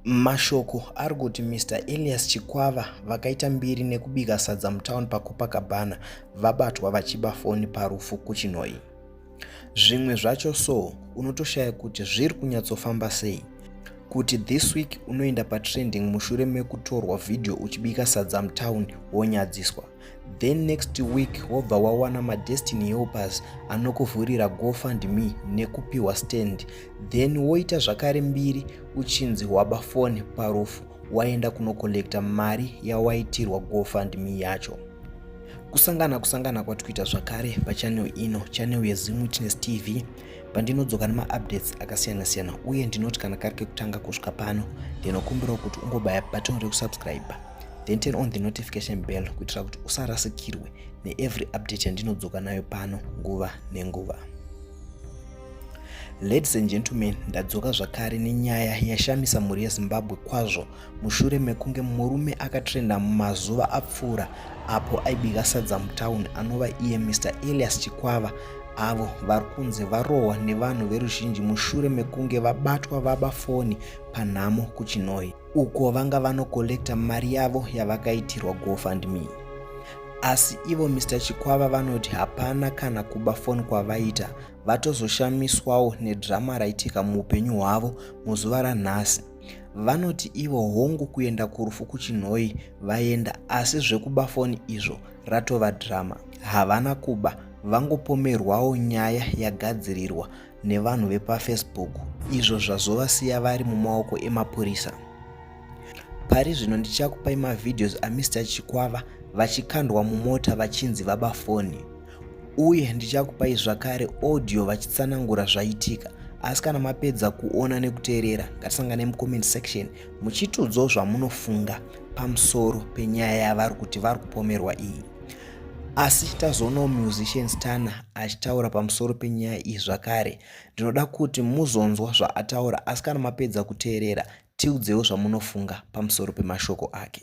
Mashoko ari kuti Mr Elias Chikwava vakaita mbiri nekubika sadza mutown paCopacabana vabatwa vachiba foni parufu kuChinhoyi. zvimwe zvacho so unotoshaya kuti zviri kunyatsofamba sei kuti this week unoenda patrending mushure mekutorwa vhidhiyo uchibika sadza mutown wonyadziswa then next week wobva wawana madestiny helpers anokuvhurira gofund me nekupiwa stand then woita zvakare mbiri uchinzi waba fone parufu waenda kunokollekta mari yawaitirwa gofundme yacho kusangana kusangana kwatikuita zvakare pachanel ino chanel yezim witness tv pandinodzoka nemaupdates akasiyana siyana uye ndinoti kana kari kekutanga kusvika pano ndinokumbirawo kuti ungobaya button rekusubscribe then turn on the notification bell kuitira kuti usarasikirwe neevery update yandinodzoka nayo pano nguva nenguva Ladies and gentlemen, ndadzoka zvakare nenyaya yashamisa mhuri yeZimbabwe kwazvo mushure mekunge murume akatrenda mumazuva apfuura apo aibika sadza mutown anova iye Mr Elias Chikwava avo vari kunzi varohwa nevanhu veruzhinji mushure mekunge vabatwa vaba foni panhamo kuChinhoyi. uko vanga vanokollekta mari yavo yavakaitirwa gofundme asi ivo mr chikwava vanoti hapana kana kuba foni kwavaita vatozoshamiswawo nedrama raitika muupenyu hwavo muzuva ranhasi vanoti ivo hongu kuenda kurufu kuchinhoi vaenda asi zvekuba foni izvo ratova drama havana kuba vangopomerwawo nyaya yagadzirirwa nevanhu vepafacebook izvo zvazovasiya vari mumaoko emapurisa pari zvino ndichakupai mavhidhios amr chikwava vachikandwa mumota vachinzi vaba foni uye ndichakupai zvakare audio vachitsanangura zvaitika asi kana mapedza kuona nekuteerera ngatisangane mucomment section muchitiudzawo zvamunofunga pamusoro penyaya yavari kuti vari kupomerwa iyi Asi tazoonawo musician Stana achitaura pamusoro penyaya iyi zvakare. Ndinoda kuti muzonzwa zvaataura asi kana mapedza kuteerera tiudzewo zvamunofunga pamusoro pemashoko ake.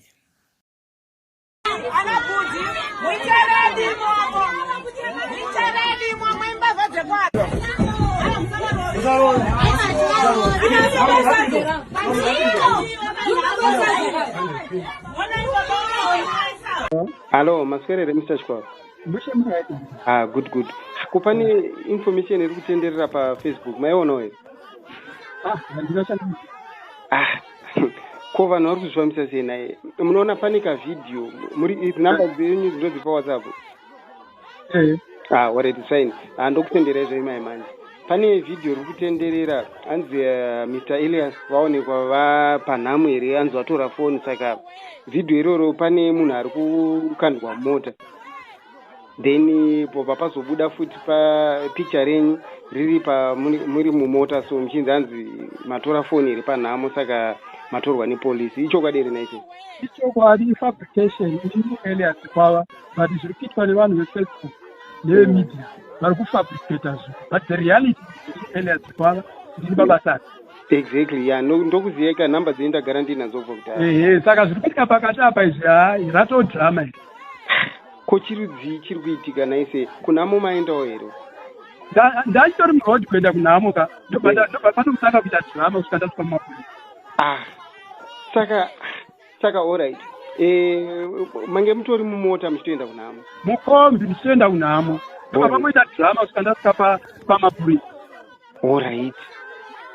Hello, maswerere Mr. Chikwaro. Bushe muraita. Ah, good good. Kupani information iri kutenderera pa Facebook, maiona here? Ah, ndinoshanda. Ah. Ko vanhu vari kuzvifambisa sei naye? Munoona pane ka video, muri number dzenyu dzinodzipa WhatsApp. mm. ah, already sign ah, ndokutenderai zvayi mai manje pane vhidhiyo riri kutenderera hanzi uh, eh, mr elias vaonekwa vapanhamo here hanzi vatora foni saka vhidhiyo iroro pane munhu ari kukandwa mota then eh, pobva pazobuda futi papicha renyu riri pamuri mumota so muchinzi hanzi matora foni iri panhamo saka matorwa nepolisi ichokwadi here naicho ichokwadi ifabrication ielias kwava but zviri kuitwa nevanhu vefacebook nevemedia vari kufabricata zvo but the reality elia dzikwava ndiri babasa ati exactly ya ndokuziyeka number dzei ndagara ndinadzo bva kudai ehe saka zviri kuitika pakati apa izvi hai ratoo drama iri ko chirudzii chiri kuitika naise kunhamo maendawo here ndachitori muroad kuenda kunhamo ka ndobva ndobva panokutanga kuita drama kusvika ndasvika mumapurisa ah saka saka orit eh, mange mutori mumota muchitoenda kunhamo mukombi muchitoenda kunhamo apa pamoita drama kusvika ndasvika pamapurisa orit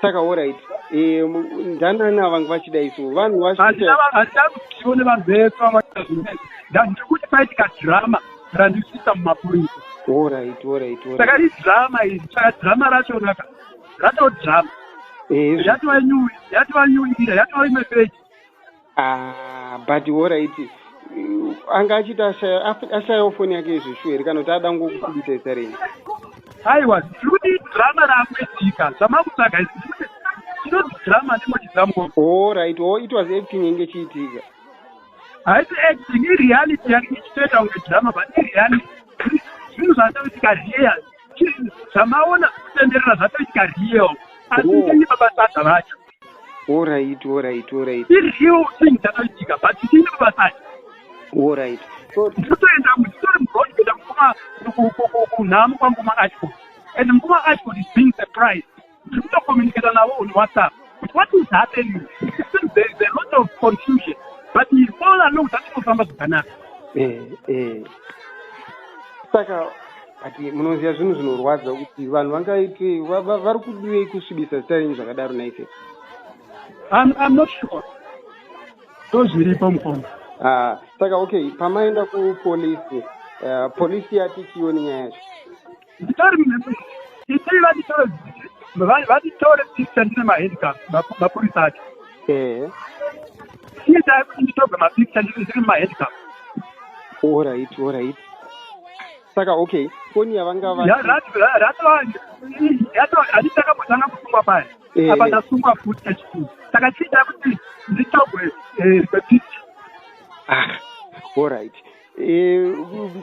saka orit eh, ndanani avange vachida isu vanhu vaandida kutiwo nevanhu vese vavaita zvine ndandiri kuti paitika drama randisvisa mumapurisa orit orit saka idrama iri saka drama rachonaka ratodrama eh, yatova nyuwi yatova nyuwi ira yatova imwe peji Ah, but horaiti anga achiti ashayawo foni yake izvo shuwa here kana kuti ada ngokukubisa isarini aiwa zvinoti drama raakuitika zvamakutsvaga chinoti drama ndimochizamko horaiti o it was acting inge chiitika haisi acting ireality yake ichitoita kunge drama but ireality zvinhu zvatoitika real zvamaona kutenderera zvatoitika real asi ngenyi mabasa acho Alright, alright, alright. Iri real thing dzakaitika but tiri mabasa acho. Alright. So ndinotoenda nditori muroad kuenda mukoma kunhamo kwamukoma Ashford. And mukoma Ashford is being surprised. Ndiri kutocommunicate navo on WhatsApp. But what is happening? It seems there is a lot of confusion. But he all along zvatinofamba zvakanaka. Eh, eh. Saka but munoziva zvinhu zvinorwadza kuti vanhu vangaite vari kudivei kusvibisa zita renyu zvakadaro naife im not sure tozviripo mukoma ah, saka okay pamaenda kupolisi eh, polisi yati chioni nyaya yacho nditori itii vatitore vatitore picture ndine mahandicap mapurisa acho ehe iye taikuti nditobva mapicture ndiri mahandicap orit orit saka okay foni yavanga vaanditakamatanga kusungwa paya eh. apa ndasungwa futi kachikuru saka chiita kuti nditogwe eh, bepiti ah, all right eh,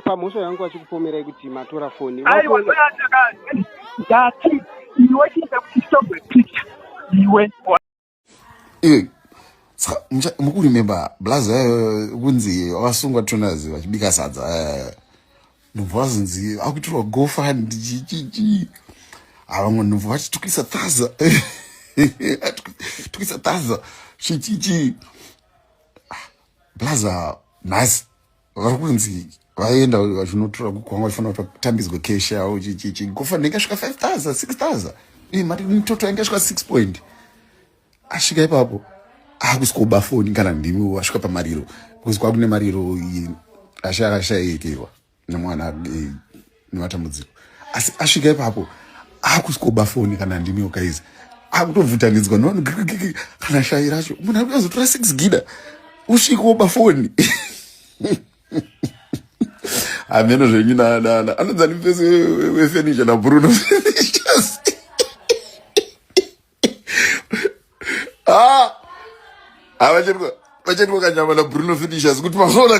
pamhosva yangu vachikupomerai kuti matora foni aiwa ndati iwe chiita kuti nditogwe picha iwe mukurememba blazi eh, kunzi vasungwa tonas vachibika sadza eh, nobva vazonzi akuitirwa gofund chichichi avamwe nobva vati tukisa taza tukisa taza chichichi ah, blaza nhasi vari kunzi vaenda vachinotora kukwanga vachifanira kuti vatambidzwe cash yavo chichichi gofa ndenge svika 5000 6000 ii mati mitoto yange svika 6 point asvika ipapo akusikoba foni kana ndimi wasvika pamariro because kwakune mariro ashaka ashaiyekerwa nemwana adei nematambudziko asi asvika ipapo akusikoba foni kana ndimi okaizi akutovhutanidzwa nevanhu kana shayi racho munhu akuda kuzotora six gida usvike woba foni hameno zvenyu nanana anonzi ani mupesi wefenisha nabruno fenishas ah! ah, vachetwa kanyama nabruno fenishas kuti mazoona